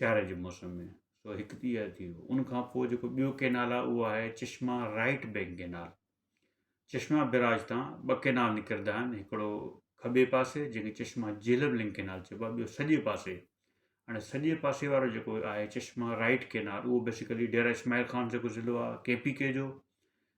سياري جي موسم ۾ سو هڪ تي ٿي ويو ان کان پوء جيڪو ٻيو ڪينال آهي اهو آهي Chashma right bank canal Chashma barrage تان ٻه ڪينال نڪرندا آهن هڪڙو کٻي پاسي جنهنکي چشما جيلب لنگ ڪينال چئبو آهي ٻيو سڄي پاسي هاڻي سڄي پاسي وارو جيڪو آهي چشما رائٽ ڪينال اهو بيسيڪلي ڊيرا اسماعيل خان جيڪو ضلعو آهي ڪي پي ڪي جو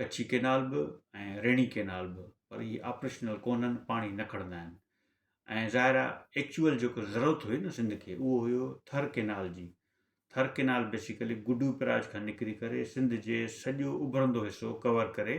ڪڇي ڪينال به ۽ ريڻي ڪينال به پر اهي آپريشنل ڪونهن پاڻي نه کڻندا آهن ۽ ظاهر آهي ايڪچوئل جيڪو ضرورت هئي نه سنڌ کي اهو هيو ٿر ڪينال جي Thar canal basically Guddu barrage کان نڪري ڪري سنڌ جي سڄو اڀرندو حصو ڪور ڪري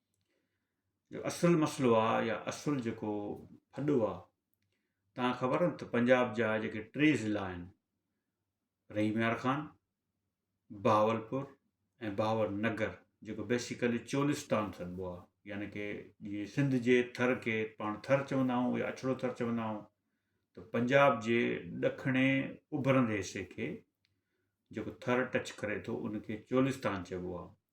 جو اصل مسئلو آ يا اصل جيڪو ڦڏو آ تان خبر آ ته پنجاب جا جيڪي ٽي ضلعا آهن رحيم يار خان بهاول پور ۽ بهاول نگر جيڪو بيسيڪلي چولستان سڏبو آ يعني ڪي جي سنڌ جي ٿر کي پاڻ ٿر چوندا آهيون يا اڇڙو ٿر چوندا آهيون ته پنجاب جي ڏکڻي اڀرندي حصي کي جيڪو ٿر ٽچ ڪري ٿو ان کي چولستان چئبو آ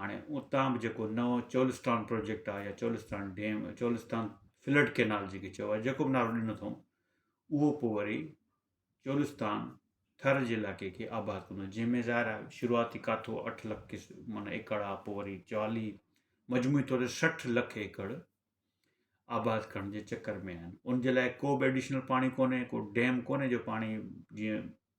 هاڻي اتان به جيڪو نئون چولستان پروجيڪٽ آهي يا Cholistan dam Cholistan flood canal جيڪي چئبو آهي جيڪو بھ نالو ڏنو اٿئون اهو پوء وري چولستان ٿر جي علائقي کي آباد ڪندو جنهن ۾ ظاهر آهي شروعاتي ڪاٿو اٺ لک ڪس معنی ايڪڙ آهي پوء وري چاليھ مجموعي طور تي سٺ لک ايڪڙ آباد ڪرڻ جي چڪر ۾ آهن ان جي لاء ڪو بھ ايڊيشنل پاڻي ڪونهي ڪو ڊيم ڪونهي جو پاڻي جيئن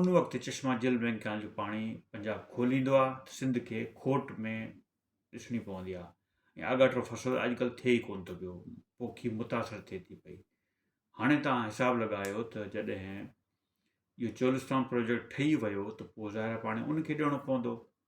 ان وقت چشما جل ۾ کيان جو پاڻي پنجاب کوليندو آ ته سنڌ کي کوٽ ۾ ڏسڻي پوندي آ ۽ آڳاٽو فصل اڄڪلھ ٿئي ئي ڪون ٿو پيو پوکي متاثر ٿئي ٿي پئي هاڻي توهان حساب لڳايو ته جڏهن جو چولستان پروجيڪٽ ٺهي ويو ته پوء ظاهر پاڻي ان کي ڏيڻو پوندو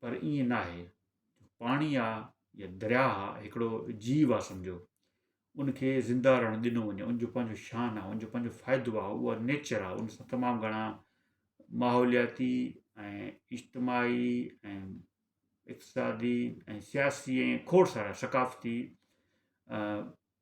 پر ائين ناهي پاڻي آ يا درياء آ هڪڙو جيو آ سمجهو ان کي زنده رهڻ ڏنو وڃي ان جو پنهنجو شان آ ان جو پنهنجو فائدو آ اهو نيچر آ ان سان تمام گهڻا ماحولياتي ۽ اجتماعي ۽ اقتصادي ۽ سياسي ۽ کوڙ سارا ثقافتي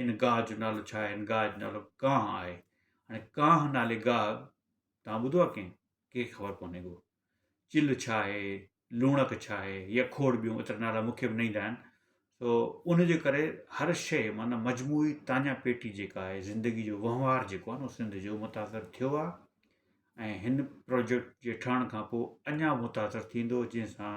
هن گاهه جو نالو ڇا آهي؟ هن گاهه جو نالو ڪانهه آهي. هاڻي ڪانهه نالي گاهه توهان ٻڌو آهي ڪنهن کي خبر ڪونهي ڪو چل ڇا آهي لوڻڪ ڇا آهي يا کوڙ ٻيون ايترا نالا مونکي به نه ايندا آهن سو انجي ڪري هر شيء معنيٰ مجموعي تانيا پيٽي جيڪا آهي زندگي جو وهنوار جيڪو آهي نو سنڌ جو متاثر ٿيو آهي ۽ هن پروجيڪٽ جي ٺهڻ کان پوء اڃا متاثر ٿيندو جنهن سان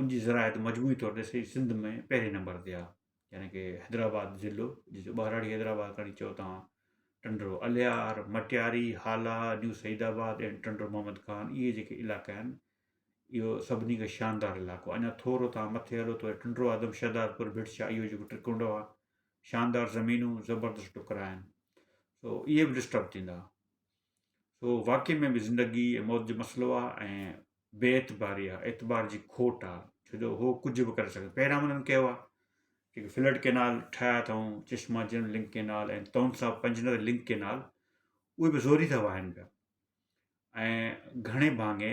ان جي زراعت مجموعي طور تي سڄي سنڌ ۾ پهرين نمبر تي آهي يعني ڪي حيدرآباد ضلعو جنهن کي ٻهراڙي حيدرآباد کڻي چئو توهان ٽنڊو الهيار مٽياري هالا نيو سعيد آباد ۽ ٽنڊو محمد خان اهي جيڪي علائقا آهن اهو سڀني کي شاندار علائقو اڃا ٿورو توهان مٿي هلو ته ٽنڊو آدم شهدادپور ڀٽشا اهو جيڪو ٽرڪنڊو آهي شاندار زمينون زبردست ٽڪرا آهن سو اهي به ڊسٽرب ٿيندا سو واقعي ۾ به زندگي ۽ موت جو مسئلو آ ۽ بي اعتباري آ اعتبار جي کوٽ آ ڇو جو هو ڪجهه به ڪري سگهن پهريان انهن ڪيو آ جيڪي فلٽ ڪينال ٺاهيا اٿئون چشما جن لنڪ ڪينال ۽ تون سا پنجنر لنڪ ڪينال اهي به زوري ٿا واهن پيا ۽ گهڻي ڀاڱي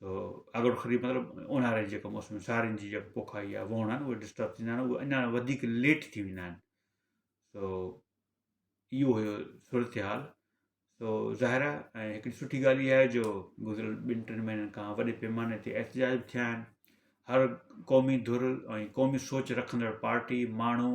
سو اڳڙ خري مطلب اونهاري جي ڪم اسم سارين جي جيڪو پوکا يا ووڻا ان وٽ ڊسٽرب ٿيندا ان وٽ اڃا وڌيڪ ليٽ ٿي ويندا ان سو يو هيو سرت حال سو ظاهر آ ۽ هڪڙي سٺي ڳالهه يا جو گذريل ٻن ٽن مهينن کان وڏي پيماني تي احتجاج به ٿيا ان هر قومي ڌر ۽ قومي سوچ رکندڙ پارٽي ماڻهو